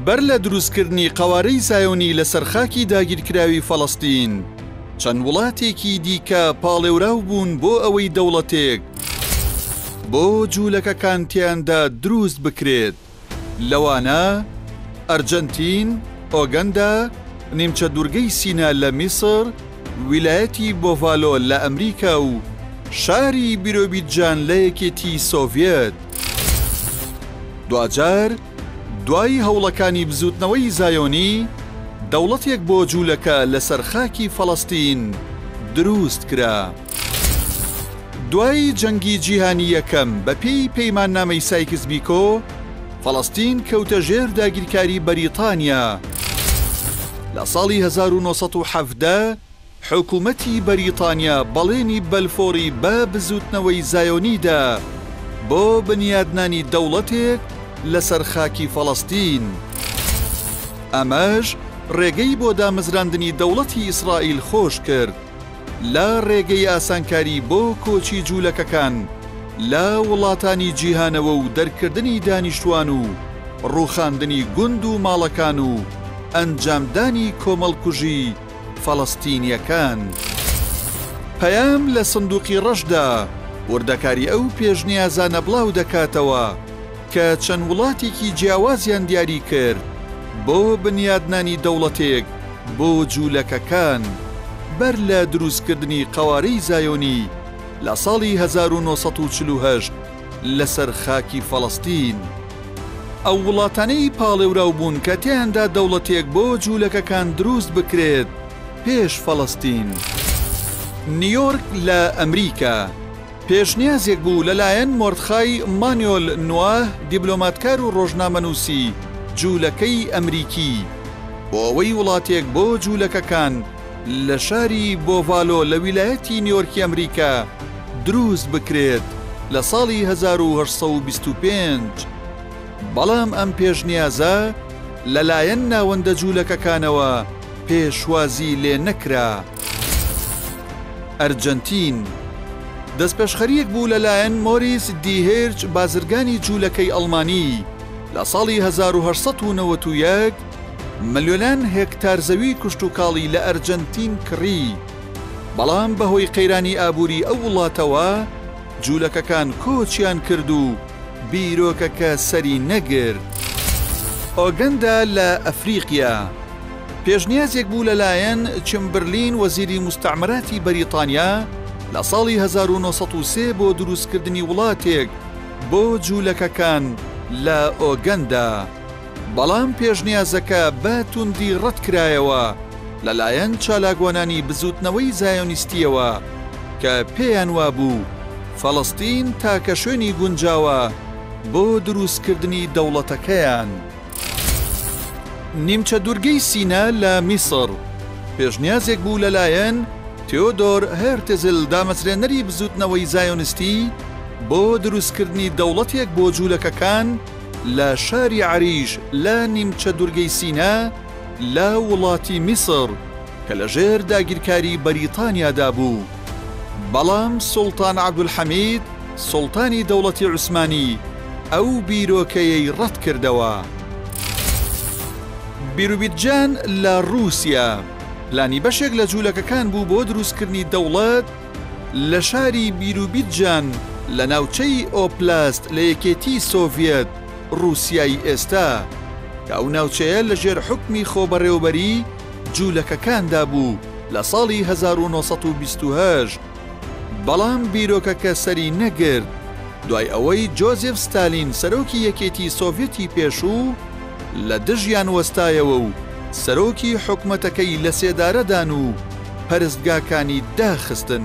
بەر لە دروستکردنی قەوارەی زایۆنی لەسەر خاکی داگیرکراوی فەڵەستین، چەند وڵاتێکی دیکە پاڵێوراو بوون بۆ ئەوەی دەوڵەتێک بۆ جوولەکەکان تێیاندا دروست بکرێت، لەوانە، ئەرجەنتین، ئۆگەندا، نیمچە دوورگەی سینا لە میسر، ویلایەتی بۆڤالۆ لە ئەمریکا و شاری بیرۆبیدجان لە یەکێتی سۆڤیەت. دواجار دوای هەوڵەکانی بزووتنەوەی زایۆنی، دەوڵەتێک بۆ جوولەکە لەسەر خاکی فەڵەستین درووست کرا. دوای جەنگی جیهانی یەکەم بەپێی پەیماننامەی سایکس بیکۆ، فەڵەستین کەوتە ژێر داگیرکاری بەریتانیا. لە ساڵی هەزار و نۆ سەد و حەڤدە حکوومەتی بەریتانیا بەڵێنی بەلفۆڕی بە بزووتنەوەی زایۆنی دا بۆ بنیادنانی دەوڵەتێک لەسەر خاکی فەڵەستین. ئەمەش ڕێگەی بۆ دامەزراندنی دەوڵەتی ئیسرائیل خۆش کرد. لە ڕێگەی ئاسانکاری بۆ کۆچی جوولەکەکان لە وڵاتانی جیهانەوە و دەرکردنی دانیشتوان و ڕووخاندنی گوند و ماڵەکان و ئەنجامدانی کۆمەڵکوژی فەڵەستینییەکان. پەیام لە سندووقی ڕەشدا وردەکاری ئەو پێشنیازانە بڵاو دەکاتەوە، کە چەند وڵاتێکی جیاوازیان دیاری کرد بۆ بنیادنانی دەوڵەتێک بۆ جوولەکەکان بەر لە دروستکردنی قەوارەی زایۆنی لە ساڵی هەزار و نۆ سەد و چل و هەشت لەسەر خاکی فەڵەستین. ئەو وڵاتانەی پاڵێوراو بوون کە تێیاندا دەوڵەتێک بۆ جوولەکەکان دروست بکرێت پێش فەڵەستین. نیۆرک لە ئەمریکا. پێشنیازێک بوو لەلایەن مۆردخای مانیۆل نواه، دیبلۆماتکار و ڕۆژنامەنووسی جوولەکەی ئەمریکی، بۆ ئەوەی وڵاتێک بۆ جوولەکەکان لە شاری بۆڤالۆ لە ویلایەتی نیۆرکی ئەمریکا دروست بکرێت لە ساڵی هەزار و هەشت سەد و بیست و پێنج، بەڵام ئەم پێشنیازە لەلایەن ناوەندە جوولەکەکانەوە پێشوازی لێ نەکرا. ئەرجەنتین، دەستپێشخەرییەک بوو لەلایەن مۆریس دی هێرچ بازرگانی جوولەکەی ئەڵمانی لە ساڵی هەزار و هەشت سەد و نەوەد و یەک ملیۆنان هێکتار زەوی کشتوکاڵی لە ئەرجەنتین کڕی بەڵام بەهۆی قەیرانی ئابووری ئەو وڵاتەوە جوولەکەکان کۆچیان کرد و بیرۆکەکە سەری نەگرت. ئۆگەندا لە ئەفریقیا، پێشنیازێک بوو لەلایەن چمبرلین وەزیری موستەعمەراتی بەریتانیا لە ساڵی هەزار و نۆ سەد و سێ بۆ دروستکردنی وڵاتێک بۆ جوولەکەکان لە ئۆگەندا، بەڵام پێشنیازەکە بە توندی ڕەتکرایەوە لەلایەن چالاکوانانی بزووتنەوەی زایۆنیستییەوە کە پێیان وابوو فەڵەستین تاکە شوێنی گونجاوە بۆ دروستکردنی دەوڵەتەکەیان. نیمچە دوورگەی سینا لە میسڕ، پێشنیازێک بوو لەلایەن تیۆدۆر هێرتزل دامەزرێنەری بزووتنەوەی زایۆنستی بۆ دروستکردنی دەوڵەتێک بۆ جوولەکەکان لە شاری عەریش لە نیمچە دوورگەی سینا لە وڵاتی میسڕ کە لەژێر داگیرکاری بەریتانیادا بوو، بەڵام سوڵتان عەبدولحەمید سوڵتانی دەوڵەتی عوسمانی ئەو بیرۆکەیەی ڕەتکردەوە. بیروبیدجان لە ڕووسیا، پلانی بەشێک لە جوولەکەکان بوو بۆ دروستکردنی دەوڵەت لە شاری بیروبیدجان لە ناوچەی ئۆبلاست لە یەکێتیی سۆڤیەت، ڕووسیای ئێستا، کە ئەو ناوچەیە لەژێر حوکمی خۆبەڕێوەبەریی جوولەکەکاندا بوو لە ساڵی هەزار و نۆ سەد و بیست و هەشت. بەڵام بیرۆکەکە سەری نەگرت، دوای ئەوەی جۆزێف ستالین سەرۆکی یەکێتی سۆڤیەتی پێشوو لە دژیان وەستایەوە و سەرۆکی حکومەتەکەی لەسێدارەدان و پەرستگاکانی داخستن.